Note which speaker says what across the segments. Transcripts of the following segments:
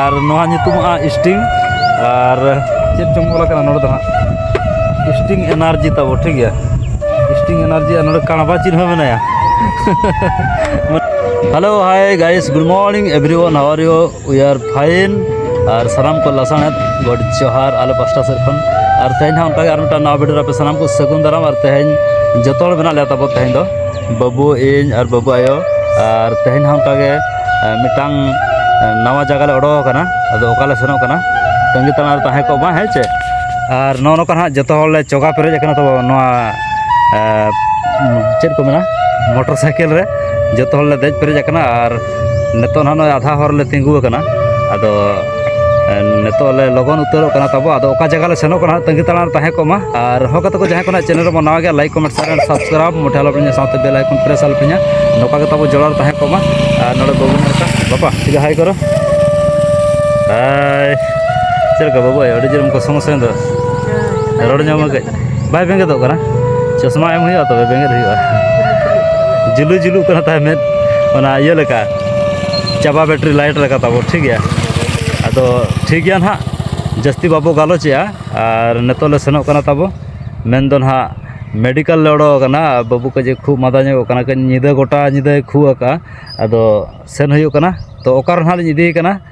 Speaker 1: ᱟᱨ ᱱᱚᱣᱟ ᱧᱩᱛᱩᱢᱚᱜᱼᱟ ᱥᱴᱤᱝ ᱟᱨ ᱪᱮᱫ ᱪᱚᱝ ᱚᱞ ᱟᱠᱟᱱᱟ ᱱᱚᱰᱮ ᱫᱚ ᱦᱟᱸᱜ ᱥᱴᱤᱝ ᱮᱱᱟᱨᱡᱤ ᱛᱟᱵᱚ ᱴᱷᱤᱠ ᱜᱮᱭᱟ ᱥᱴᱤᱝ ᱮᱱᱟᱨᱡᱤ ᱟᱨ ᱱᱚᱰᱮ ᱠᱟᱬᱵᱟ ᱪᱤᱱ ᱦᱚᱸ ᱢᱮᱱᱟᱭᱟ hello hi guys good morning everyone how are you we are fine ᱟᱨ ᱥᱟᱱᱟᱢ ᱠᱚ ᱞᱟᱥᱟᱬᱦᱮᱫ ᱜᱚᱰ ᱡᱚᱦᱟᱨ ᱟᱞᱮ ᱯᱟᱥᱴᱟ ᱥᱮᱫ ᱠᱷᱚᱱ ᱟᱨ ᱛᱮᱦᱮᱧ ᱦᱚᱸ ᱚᱱᱠᱟᱜᱮ ᱟᱨ ᱢᱤᱫᱴᱟᱝ ᱱᱟᱣᱟ ᱵᱷᱤᱰᱤᱭᱳ ᱨᱮ ᱟᱯᱮ ᱥᱟᱱᱟᱢ ᱠᱚ ᱥᱟᱹᱜᱩᱱ ᱫᱟᱨᱟᱢ ᱟᱨ ᱛᱮᱦᱮᱧ ᱡᱚᱛᱚ ᱦᱚᱲ ᱢᱮᱱᱟᱜ ᱞᱮᱭᱟ ᱛᱟᱵᱚ ᱛᱮᱦᱮᱧ ᱫᱚ ᱵᱟᱹᱵᱩ ᱤᱧ ᱟᱨ ᱵᱟᱹᱵᱩ ᱟᱭᱳ ᱟᱨ ᱛᱮᱦᱮᱧ ᱦᱚᱸ ᱚᱱᱠᱟ ᱜᱮ ᱢᱤᱫᱴᱟᱝ ᱱᱟᱣᱟ ᱡᱟᱭᱜᱟ ᱞᱮ ᱚᱰᱚᱠ ᱟᱠᱟᱱᱟ ᱟᱫᱚ ᱚᱠᱟ ᱞᱮ ᱥᱮᱱᱚᱜ ᱠᱟᱱᱟ ᱛᱟᱺᱜᱤ ᱛᱟᱲᱟᱜ ᱨᱮ ᱛᱟᱦᱮᱸ ᱠᱚᱜ ᱢᱟ ᱦᱮᱸ ᱪᱮ ᱟᱨ ᱱᱚᱜᱼᱚ ᱱᱚᱝᱠᱟ ᱦᱟᱸᱜ ᱡᱚᱛᱚ ᱦᱚᱲ ᱞᱮ ᱪᱚᱜᱟ ᱯᱮᱨᱮᱡ ᱟᱠᱟᱱᱟ ᱛᱚ ᱱᱚᱣᱟ ᱪᱮᱫ ᱠᱚ ᱢᱮᱱᱟ ᱢᱚᱴᱚᱨ ᱥᱟᱭᱠᱮᱞ ᱨᱮ ᱡᱚᱛᱚ ᱦᱚᱲ ᱞᱮ ᱫᱮᱡ ᱯᱮᱨᱮᱡ ᱟᱠᱟᱱᱟ ᱟᱨ ᱱᱤᱛᱚᱜ ᱱᱟᱦᱟᱜ ᱱᱚᱜᱼᱚᱭ ᱟᱫᱷᱟ ᱦᱚᱨ ᱨᱮᱞᱮ ᱛᱤᱸᱜᱩ ᱟᱠᱟᱱᱟ ᱟᱫᱚ ᱱᱤᱛᱚᱜ ᱞᱮ ᱞᱚᱜᱚᱱ ᱩᱛᱟᱹᱨᱚᱜ ᱠᱟᱱᱟ ᱛᱟᱵᱚ ᱟᱫᱚ ᱚᱠᱟ ᱡᱟᱭᱜᱟ ᱞᱮ ᱥᱮᱱᱚᱜ ᱠᱟᱱᱟ ᱛᱟᱺᱜᱤ ᱛᱟᱲᱟᱜ ᱨᱮ ᱛᱟᱦᱮᱸ ᱠᱚᱜ ᱢᱟ ᱟᱨ ᱦᱚᱸ ᱜᱟᱛᱮ ᱠᱚ ᱡᱟᱦᱟᱸᱭ ᱠᱚ ᱱᱟᱦᱟᱜ ᱪᱮᱱᱮᱞ ᱨᱮᱵᱚᱱ ᱱᱟᱣᱟ ᱜᱮᱭᱟ like comment share and subscribe ᱢᱚᱴᱷᱮ ᱟᱞᱚ ᱯᱮ ᱥᱟᱶᱛᱮ ᱵᱮᱞ ᱟᱭᱠᱚᱱ ᱯᱨᱮᱥ ᱟᱞᱚ ᱯᱮ ᱧᱟ ᱱᱚᱝᱠᱟ ᱜᱮ ᱛᱟᱵᱚ ᱡᱚᱲᱟᱣ ᱛᱟᱦᱮᱸ ᱠᱚᱜ ᱢᱟ ᱟᱨ ᱱᱚᱰᱮ ᱵᱟᱹᱵᱩ ᱱᱚᱝᱠᱟ ᱵᱟᱯᱟ ᱴᱷᱤᱠ ᱦᱟᱭ ᱠᱚᱨᱚ ᱦᱟᱭ ᱪᱮᱫ ᱞᱮᱠᱟ ᱵᱟᱹᱵᱩ ᱟᱹᱰᱤ ᱡᱳᱨ ᱚᱱᱠᱟ ᱥᱚᱢᱚᱥᱥᱟ ᱫᱚ ᱨᱚᱲ ᱧᱟᱢ ᱠᱟᱹᱡ ᱵᱟᱭ ᱵᱮᱸᱜᱮᱫᱚᱜ ᱠᱟᱱᱟ ᱪᱚᱥᱢᱟ ᱮᱢ ᱦᱩᱭᱩᱜᱼᱟ ᱛᱚᱵᱮ ᱵᱮᱸᱜᱮᱫ ᱦᱩᱭᱩᱜᱼᱟ ᱡᱩᱞᱩ ᱡᱩᱞᱩᱜ ᱠᱟᱱᱟ ᱛᱟᱦᱮᱸ ᱢᱮᱫ ᱚᱱᱟ ᱤᱭᱟᱹ ᱞᱮᱠᱟ ᱪᱟᱵᱟ ᱵᱮᱴᱨᱤ ᱞᱟᱭᱤᱴ ᱞᱮᱠᱟ ᱛᱟᱵᱚ ᱴᱷᱤᱠ ᱜᱮᱭᱟ ᱟᱫᱚ ᱴᱷᱤᱠ ᱜᱮᱭᱟ ᱱᱟᱦᱟᱜ ᱡᱟᱹᱥᱛᱤ ᱵᱟᱵᱚ ᱜᱟᱞᱚᱪᱮᱜᱼᱟ ᱟᱨ ᱱᱤᱛᱚᱜ ᱞᱮ ᱥᱮᱱᱚᱜ ᱠᱟᱱᱟ ᱛᱟᱵᱚ ᱢᱮᱱᱫᱚ ᱱᱟᱦᱟᱜ ᱢᱮᱰᱤᱠᱮᱞ ᱞᱮ ᱚᱰᱚᱠ ᱟᱠᱟᱱᱟ ᱵᱟᱹᱵᱩ ᱠᱟᱹᱡ ᱮ ᱠᱷᱩᱜ ᱢᱟᱫᱟ ᱧᱚᱜᱚᱜ ᱠᱟᱱᱟ ᱠᱟᱹᱡ ᱧᱤᱫᱟᱹ ᱜᱚᱴᱟ ᱧᱤᱫᱟᱹᱭ ᱠᱷᱩᱜ ᱟᱠᱟᱫᱼᱟ ᱟᱫᱚ ᱥᱮᱱ ᱦᱩᱭᱩᱜ ᱠᱟᱱᱟ ᱛᱚ ᱚᱠᱟᱨᱮ ᱱᱟᱦᱟᱜ ᱞᱤᱧ ᱤᱫᱤᱭᱮ ᱠᱟᱱᱟ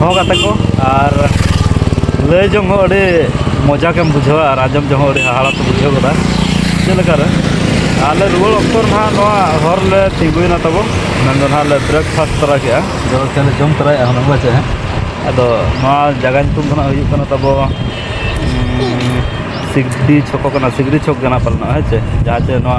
Speaker 1: ᱦᱚᱸ ᱠᱟᱛᱮ ᱠᱚ ᱟᱨ ᱞᱟᱹᱭ ᱡᱚᱝ ᱦᱚᱸ ᱟᱹᱰᱤ ᱢᱚᱡᱟ ᱜᱮᱢ ᱵᱩᱡᱷᱟᱹᱣᱟ ᱟᱨ ᱟᱸᱡᱚᱢ ᱡᱚᱝ ᱦᱚᱸ ᱟᱹᱰᱤ ᱦᱟᱦᱟᱲᱟ ᱠᱚ ᱵᱩᱡᱷᱟᱹᱣ ᱜᱚᱫᱟ ᱪᱮᱫ ᱞᱮᱠᱟᱨᱮ ᱟᱞᱮ ᱨᱩᱣᱟᱹᱲ ᱚᱠᱛᱚ ᱱᱟᱦᱟᱜ ᱱᱚᱣᱟ ᱦᱚᱨ ᱞᱮ ᱛᱤᱸᱜᱩᱭᱮᱱᱟ ᱛᱟᱵᱚ ᱢᱮᱱᱫᱚ ᱱᱟᱦᱟᱜ ᱞᱮ ᱵᱨᱮᱠᱯᱷᱟᱥᱴ ᱛᱚᱨᱟ ᱠᱮᱜᱼᱟ ᱡᱚᱞᱠᱷᱤᱭᱟᱹ ᱞᱮ ᱡᱚᱢ ᱛᱚᱨᱟᱭᱮᱜᱼᱟ ᱦᱩᱱᱟᱹᱝ ᱯᱟᱪᱮ ᱟᱫᱚ ᱱᱚᱣᱟ ᱡᱟᱭᱜᱟ ᱧᱩᱛᱩᱢ ᱫᱚ ᱱᱟᱦᱟᱜ ᱦᱩᱭᱩᱜ ᱠᱟᱱᱟ ᱛᱟᱵᱚ ᱥᱤᱠᱫᱤ ᱪᱷᱚᱠᱚ ᱠᱟᱱᱟ ᱥᱤᱠᱫᱤ ᱪᱷᱚᱠ ᱠᱟᱱᱟ ᱯᱟᱞᱮᱱᱚᱜ ᱦᱮᱸ ᱪᱮ ᱡᱟᱦᱟᱸ ᱪᱮ ᱱᱚᱣᱟ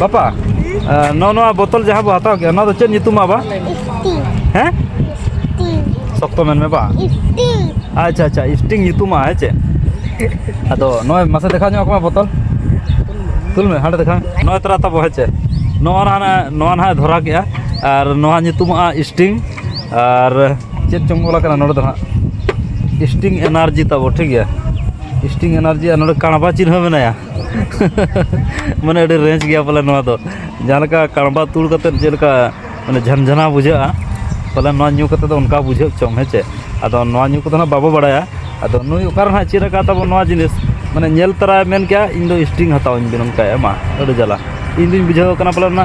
Speaker 1: ᱵᱟᱯᱟ ᱱᱚᱣᱟ ᱱᱚᱣᱟ ᱵᱳᱛᱚᱞ ᱡᱟᱦᱟᱸ ᱵᱚ ᱦᱟᱛᱟᱣ ᱠᱮᱫᱟ ᱱᱚᱣᱟ ᱫᱚ ᱪᱮᱫ ᱧᱩᱛᱩᱢᱟ ᱵᱟ ᱦᱮᱸ ᱥᱚᱠᱛᱚ ᱢᱮᱱ ᱢᱮ ᱵᱟ ᱟᱪᱪᱷᱟ ᱟᱪᱪᱷᱟ ᱤᱥᱴᱤᱝ ᱧᱩᱛᱩᱢᱟ ᱦᱮᱸ ᱪᱮ ᱟᱫᱚ ᱱᱚᱜᱼᱚᱭ ᱢᱟᱥᱮ ᱫᱮᱠᱷᱟᱣ ᱧᱚᱜ ᱠᱚᱢᱟ ᱵᱳᱛᱚᱞ ᱛᱩᱞ ᱢᱮ ᱦᱟᱸᱰᱮ ᱫᱮᱠᱷᱟᱣ ᱱᱚᱜᱼᱚᱭ ᱛᱚᱨᱟ ᱛᱟᱵᱚ ᱦᱮᱸ ᱪᱮ ᱱᱚᱣᱟ ᱱᱟᱦᱟᱜ ᱱᱚᱣᱟ ᱱᱟᱦᱟᱜ ᱫᱷᱚᱨᱟᱣ ᱠᱮᱜᱼᱟ ᱟᱨ ᱱᱚᱣᱟ ᱧᱩᱛᱩᱢᱚᱜᱼᱟ ᱤᱥᱴᱤᱝ ᱟᱨ ᱪᱮᱫ ᱪᱚᱝ ᱚᱞ ᱟᱠᱟᱱᱟ ᱱᱚᱰᱮ ᱫᱚ ᱱᱟᱦᱟᱜ ᱤᱥᱴᱤᱝ ᱮᱱᱟᱨᱡᱤ ᱛᱟᱵᱚ ᱴᱷᱤᱠ ᱜᱮᱭᱟ ᱤᱥᱴᱤᱝ ᱮᱱᱟᱨᱡᱤ ᱟᱨ ᱱᱚᱰᱮ ᱠᱟᱬᱵᱟ ᱪᱤᱱᱦᱟᱹ ᱢᱮᱱᱟᱭᱟ ᱢᱟᱱᱮ ᱟᱹᱰᱤ ᱨᱮᱸᱡᱽ ᱜᱮᱭᱟ ᱯᱟᱞᱮ ᱱᱚᱣᱟ ᱫᱚ ᱡᱟᱦᱟᱸ ᱞᱮᱠᱟ ᱠᱟᱬᱵᱟ ᱛᱩᱲ ᱠᱟᱛᱮᱫ ᱪᱮᱫ ᱞᱮᱠᱟ ᱢᱟᱱᱮ ᱡᱷᱟᱱᱡᱷᱟᱱᱟ ᱵᱩᱡᱷᱟᱹᱜᱼᱟ ᱯᱟᱞᱮ ᱱᱚᱣᱟ ᱧᱩ ᱠᱟᱛᱮᱫ ᱫᱚ ᱚᱱᱠᱟ ᱵᱩᱡᱷᱟᱹᱜ ᱪᱚᱝ ᱦᱮᱸ ᱪᱮ ᱟᱫᱚ ᱱᱚᱣᱟ ᱧᱩ ᱠᱚᱫᱚ ᱦᱟᱸᱜ ᱵᱟᱵᱚ ᱵᱟᱲᱟᱭᱟ ᱟᱫᱚ ᱱᱩᱭ ᱚᱠᱟᱨᱮ ᱦᱟᱸᱜ ᱪᱮᱫ ᱟᱠᱟᱫ ᱛᱟᱵᱚᱱ ᱱᱚᱣᱟ ᱡᱤᱱᱤᱥ ᱢᱟᱱᱮ ᱧᱮᱞ ᱛᱚᱨᱟᱭ ᱢᱮᱱ ᱠᱮᱫᱼᱟ ᱤᱧᱫᱚ ᱥᱴᱨᱤᱝ ᱦᱟᱛᱟᱣᱟᱹᱧ ᱵᱮᱱ ᱚᱱᱠᱟᱭᱮᱫᱼᱟ ᱢᱟ ᱟᱹᱰᱤ ᱡᱟᱞᱟ ᱤᱧᱫᱩᱧ ᱵᱩᱡᱷᱟᱹᱣ ᱠᱟᱱᱟ ᱯᱟᱞᱮᱱ ᱚᱱᱟ